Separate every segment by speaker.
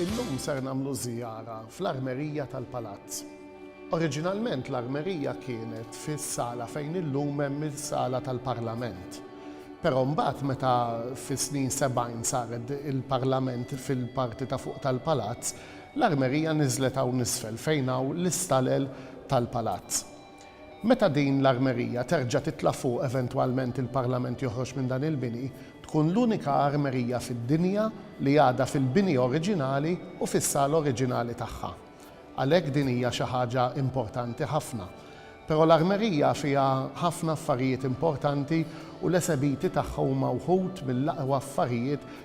Speaker 1: Illum ser nagħmlu żjara fl-armerija tal-palazz. Oriġinalment l-armerija kienet fis-sala fejn illum hemm is-sala tal-parlament. Però mbagħad meta fis-snin sebgħin saret il-parlament fil-parti ta' fuq tal-palazz, l-armerija niżlet hawn isfel fejn hawn l-istalel tal-palazz. Meta din l-armerija terġa' titla' fuq eventwalment il-Parlament joħroġ minn dan il-bini, tkun l-unika armerija fid-dinja li għadha fil-bini oriġinali u fis-sala oriġinali tagħha. Għalhekk din hija xi ħaġa importanti ħafna. Però l-armerija fiha ħafna affarijiet importanti u l-esebiti tagħha huma wħud mill-aqwa affarijiet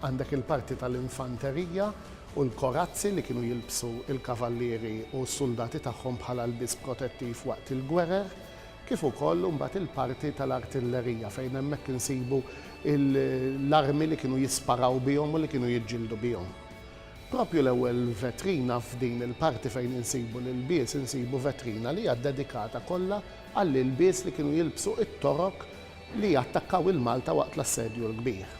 Speaker 1: Għandek il-parti tal-infanterija u l-korazzi li kienu jilbsu l-kavallieri u s-suldati tagħhom bħala lbies protettiv waqt il-gwerer, kif ukoll imbagħad il-parti tal-artillerija fejn hemmhekk insibu l-armi li kienu jisparaw bihom u li kienu jiġġieldu bihom. Proprju l-ewwel vetrina f'din il-parti fejn insibu l-ilbies insibu vetrina li hija dedikata kollha għall-ilbies li kienu jilbsu t-Torok li attakkaw il-Malta waqt l-Assedju l-Kbir.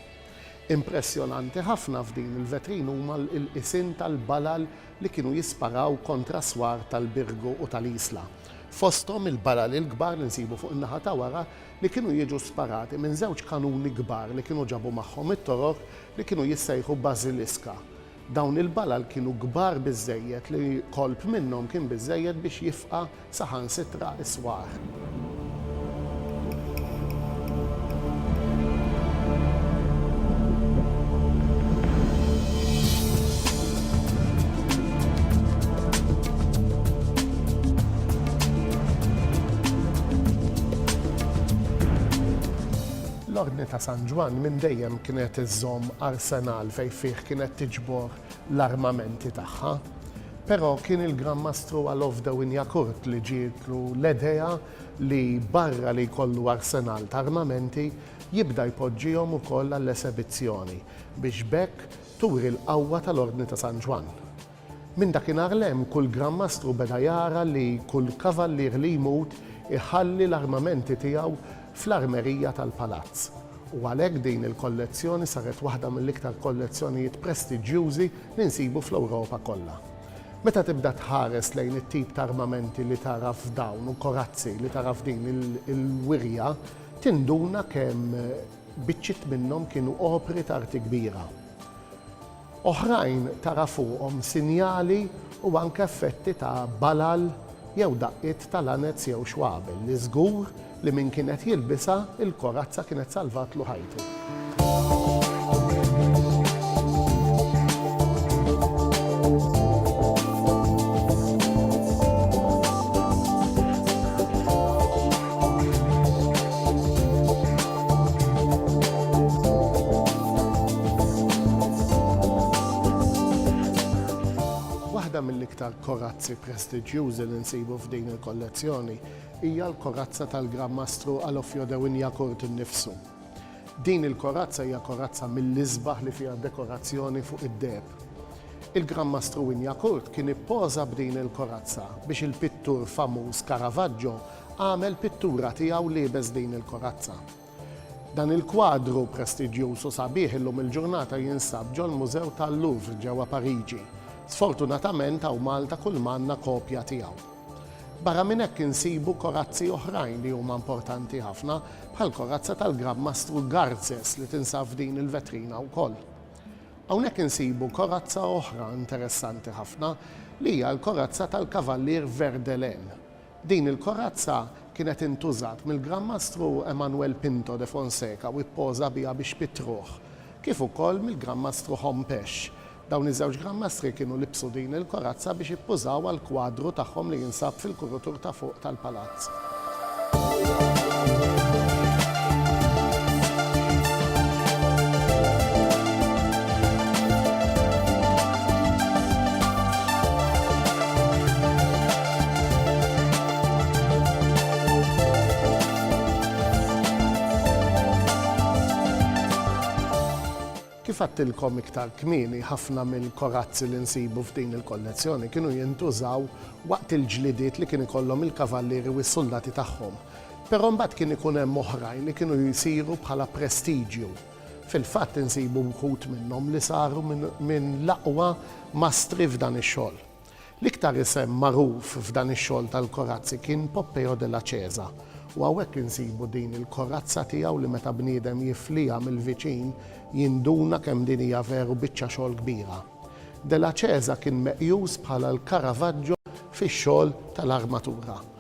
Speaker 1: Impressjonanti ħafna f'din il-vetrina huma l-qisien tal-balal li kienu jisparaw kontra s-swar tal-Birgu u tal-Isla. Fosthom il-balal il-kbar li nsibu fuq in-naħa ta' wara li kienu jiġu sparati minn żewġ kanuni kbar li kienu ġabu magħhom it-Torok li kienu jissejħu Basiliska. Dawn il-balal kienu kbar biżżejjed li kolp minnhom kien biżżejjed biex jifqa' saħansitra s-swar. L-Ordni ta' San Ġwann minn dejjem kienet iżżomm arsenal. fejn fih kienet tiġbor l-armamenti tagħha. Però kien il-Gran Mastru Alof de Wignacourt li ġietlu l-edea li barra li jkollu arsenal ta' armamenti, jibda jpoġġihom ukoll għall-esebizzjoni, biex b'hekk turi l-qawwa tal-Ordni ta' San Ġwann. Minn dakinhar 'l hemm kull Gran Mastru beda jara li kull kavallier li jmut iħalli l-armamenti tiegħu fl-armerija tal-palazz u għalhekk din il-kollezzjoni saret waħda mill-iktar kollezzjonijiet prestiġjużi li nsibu fl-Ewropa kollha. Meta tibda tħares lejn it-tip ta' armamenti li tara f'dawn u korazzi li tara f'din il-wirja tinduna kemm biċċiet minnhom kienu opri t'arti kbira. Oħrajn tara fuqhom sinjali u anke effetti ta' balal jew daqqiet ta' lanez jew xwabel li żgur li min kien qed jilbisha, il-korazza kienet salvatlu ħajtu. Waħda mill-iktar korazzi prestiġjużi li nsibu f'din il-kollezzjoni hija l-korazza tal-Gran Mastru Alofio de Wignacourt innifsu. Din il-korazza hija korazza mill-isbaħ li fiha dekorazzjoni fuq id-deheb. Il-Gran Mastru Wignacourt kien ippoża b'din il-korazza biex il-pittur famuż Caravaggio Għamel pittura tiegħu liebes din il-korazza. Dan il-kwadru prestiġjuż u sabiħ illum il-ġurnata jinsab ġol-Mużew tal-Louvre ġewwa Pariġi. Sfortunatament hawn Malta kull ma għandna kopja tiegħu. Barra minn hekk insibu korazzi oħrajn li huma importanti ħafna bħall-korazza tal-Gran Mastru Garces li tinsab f'din il-vetrina wkoll. Hawnhekk insibu korazza oħra interessanti ħafna li hija l-korazza tal-Kavallier Verdelin. Din il-korazza kienet intużat mill-Gran Mastru Emanuel Pinto de Fonseca u ppoża biha biex pittruh, kif ukoll mill-Gran Mastru Hom Pesh. Dawn iż-żewġ Gran Mastri kienu libsu din il-korazza biex ippużaw għall-kwadru tagħhom li jinsab fil-kurutur ta' fuq tal-palazz. Kif għedtilkom iktar kmieni, ħafna mill-korazzi li nsibu f'din il-kollezzjoni kienu jintużaw waqt il-ġlidiet li kien ikollhom il-kavallieri u s-suldati tagħhom. Però mbagħad kien ikun hemm oħrajn li kienu jsiru bħala prestiġju. Fil-fatt insibu wħud minnhom li saru minn l-aqwa mastri f'dan ix-xogħol. L-iktar isem magħruf f'dan ix-xogħol tal-korazzi kien Poppeo della Cesa u hawnhekk insibu din il-korazza tiegħu li meta bniedem jifliha mill-viċin jinduna kemm din hija veru biċċa xogħol kbira. Della Cesa kien meqjus bħala l-Caravaggio fix-xogħol tal-armatura.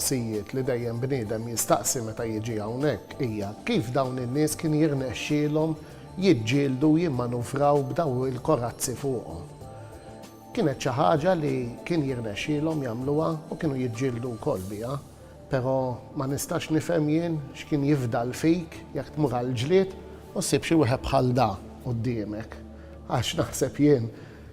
Speaker 1: mistoqsijiet li dejjem bniedem jistaqsi meta jiġi hawnhekk hija kif dawn in-nies kien jirnexxielhom jiġġieldu u jimmanuvraw b'daw il-korazzi fuqhom. Kienet xi ħaġa li kien jirnexxielhom jagħmluha u kienu jiġġieldu wkoll biha, però ma nistax nifhem jien x'kien jifdal fik jekk tmur għall-ġlied u ssib xi wieħed bħal da quddiemek, għax naħseb jien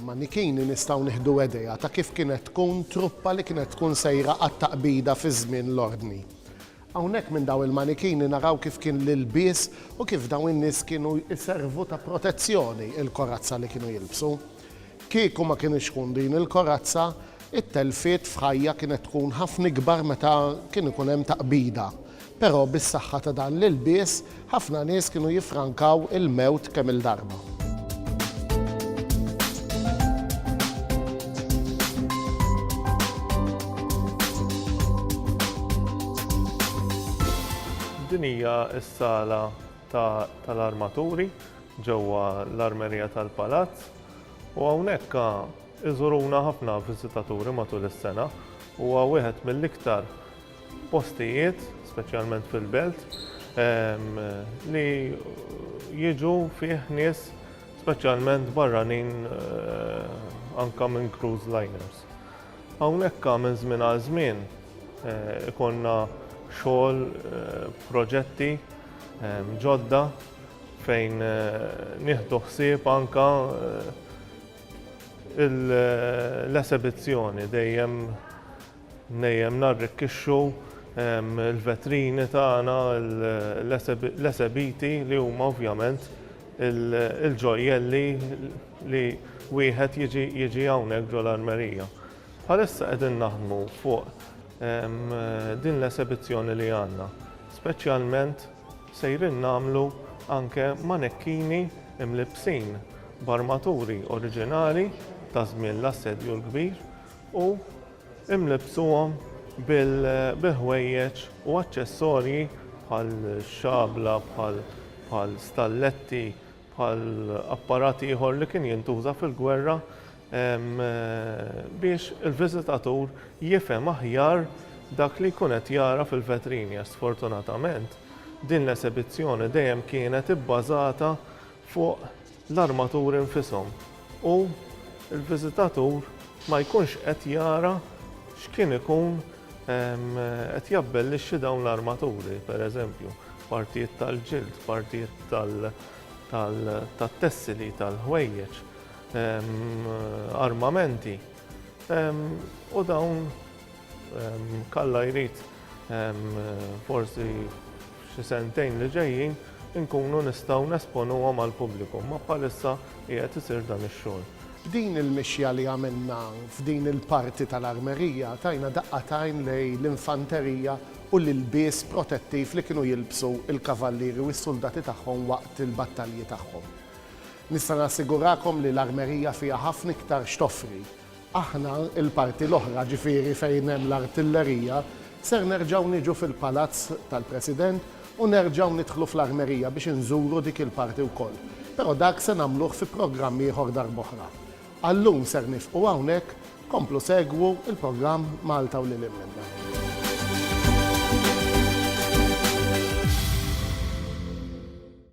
Speaker 1: Manichini nistgħu nieħdu edea ta' kif kienet tkun truppa li kienet tkun sejra għat-taqbida fi żmien l-Ordni. Hawnhekk minn dawn il-manichini naraw kif kien l-ilbies u kif dawn in-nies kienu jservu ta' protezzjoni il-korazza li kienu jilbsu. Kieku ma kienitx tkun din il-korazza, it-telfiet f'ħajja kienet tkun ħafna ikbar meta kien ikun hemm taqbida. Però bis-saħħa ta' dan l-ilbies, ħafna nies kienu jiffrankaw il-mewt kemm-il darba.
Speaker 2: Din hija s-sala tal-armaturi ġewwa l-armerija tal-Palazz u hawnhekk iżuruna ħafna viżitaturi matul is-sena. Huwa wieħed mill-iktar postijiet, speċjalment fil-belt, ehm, li jiġu fih nies speċjalment barranin eh, anka minn cruise liners. Hawnhekk minn żmien għal żmien eh, ikonna xogħol eh, proġetti ehm, ġodda fejn nieħdu ħsieb anka l-esebizzjoni dejjem Dejjem narrikkixxu l-vetrini tagħna, l-esebiti li huma ovvjament il-ġojjelli li wieħed jiġi jiġi hawnhekk ġol-armerija. Bħalissa qegħdin naħdmu fuq din l-esebizzjoni li għandna. Speċjalment sejrin nagħmlu anke manekkini mlibbsin b'armaturi oriġinali ta' żmien l-Assedju l-Kbir. u imlibbsuhom bil-ħwejjeġ u aċċessorji bħal xabla, bħal stalletti, bħal apparat ieħor li kien jintuża fil-gwerra biex il-viżitatur jifhem aħjar dak li jkun qed jara fil-vetrini għax sfortunatament din l-esebizzjoni dejjem kienet ibbażata fuq l-armaturi infishom u l-viżitatur ma jkunx qed jara x'kien ikun qed jabbellixxi dawn l-armaturi, per eżempju, partijiet tal-ġild, partijiet tat-tessili, tal-ħwejjeġ, armamenti u dawn. Kalla jrid forsi xi sentejn li ġejjin inkunu nistgħu nesponuhom għall-pubbliku, ma bħalissa qiegħed isir dan ix-xogħol. B'din il-mixja
Speaker 1: li għamilna f'din il-parti tal-armerija tajna daqqa t'għajn lejn l-infanterija u l-ilbies protettiv li kienu jilbsu l-kavallieri u s-suldati tagħhom waqt il-battalji tagħhom. Nista' nassigurakom li l-armerija fiha ħafna iktar x'toffri. Aħna, il-parti l-oħra, ġifieri fejn hemm l-artillerija, ser nerġgħu niġu fil-Palazz tal-President u nerġgħu nidħlu fl-armerija biex inżuru dik il-parti wkoll. Però dak se nagħmluh fi programm ieħor darb'oħra. Għal-lum ser nifqu hawnhekk, komplu segwu l-programm Malta u Lil Hinn Minnha.